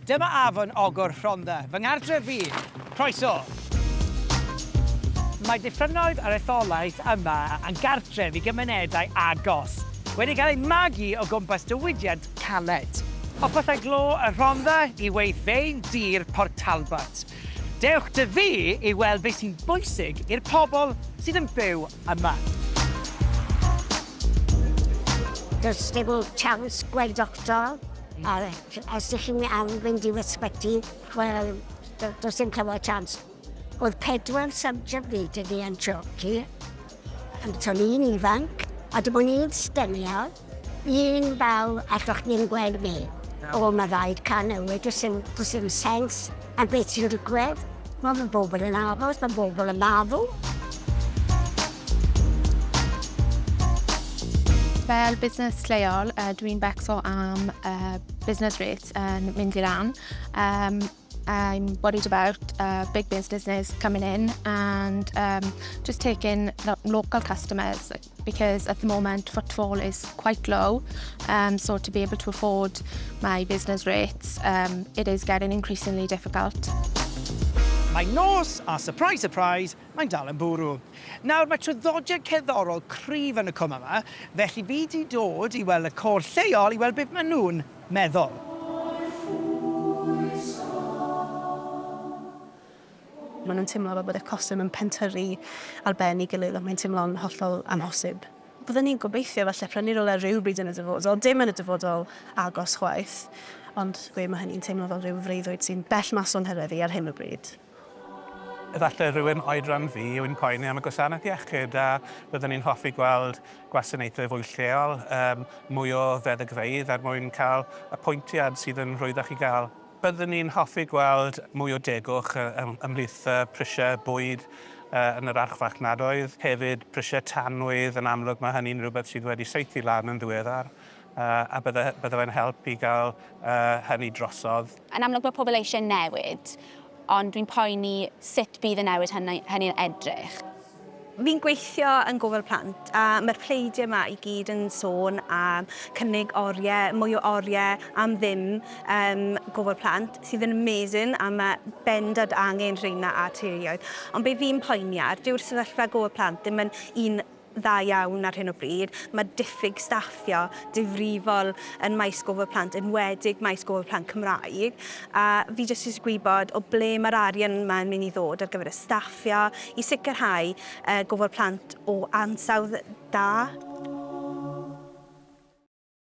Dyma afon Ogwr Rhondda, fy ngardref fi! Croeso! Mae diffynnoedd yr etholaeth yma yn gartref i gymunedau agos, wedi cael eu magu o gwmpas diwydiant caled. O Pyllau Glo y Rhondda i weithfeydd dir Port Talbot, dewch 'da fi i weld beth sy'n bwysig i'r pobl sydd yn byw yma. Does dim siawns gweld doctor? A os dych chi'n am fynd i'r ysbyty, wel, do- does dim cyfle chance. Oedd pedwar subject fi dŷ fi yn Chorci. Ond to'n i'n ifanc, a dim ond un sgenial, un baw allwch chi ddim gweld fi. O, ma' raid canol, does dim, does dim sense. A beth sy'n digwydd? Wel, mae bobl yn aros, mae bobl yn marw. Fel busnes lleol, uh, dwi'n becso am uh, business rates yn mynd i lan. Um, I'm worried about uh, big businesses coming in and um, just taking local customers, because at the moment footfall is quite low um, so to be able to afford my business rates um, it is getting increasingly difficult. Mae nos, a surprise, surprise, mae'n dal yn bwrw. Nawr, mae traddodiad cerddorol cryf yn y cwm yma, felly fi di dod i weld y côr lleol i weld beth maen nhw'n meddwl. Maen nhw'n teimlo fel bod y costau yn pentyrru ar ben ei gilydd ac mae'n teimlo'n hollol amhosib. Byddwn ni'n gobeithio falle prynu rywle rywbryd yn y dyfodol, dim yn y dyfodol agos chwaith, ond gwe mae hynny'n teimlo fel rhyw freuddwyd sy'n bell mas o'n hyrfa fi ar hyn o bryd. Efallai rhywun oedran fi yw'n poeni am y gwasanaeth iechyd a byddwn ni'n hoffi gweld gwasanaethau fwy lleol, mwy o feddygfeydd er mwyn cael apwyntiad sydd yn rwyddach i gael. Byddwn ni'n hoffi gweld mwy o degwch ymhlith prisiau bwyd yn yr archfarchnadoedd, hefyd prisiau tanwydd, yn amlwg mae hynny'n rhywbeth sydd wedi saethu lan yn ddiweddar a bydde fe'n help i gael hynny drosodd. Yn amlwg mae pobl eisiau newid, ond dwi'n poeni sut bydd y newid hynny'n edrych. Fi'n gweithio yn gofal plant a mae'r pleidiau yma i gyd yn sôn am cynnig oriau, mwy o oriau am ddim ym gofal plant, sydd yn amazing a mae bendant angen rheina ar teuluoedd. Ond be fi'n poeni ar, dyw'r sefyllfa gofal plant ddim yn un dda iawn ar hyn o bryd, mae diffyg staffio difrifol yn maes gofal plant, enwedig maes gofal plant Cymraeg, a fi jyst isie gwybod o ble mae'r arian yma yn mynd i ddod ar gyfer y staffio, i sicrhau gofal plant o ansawdd da.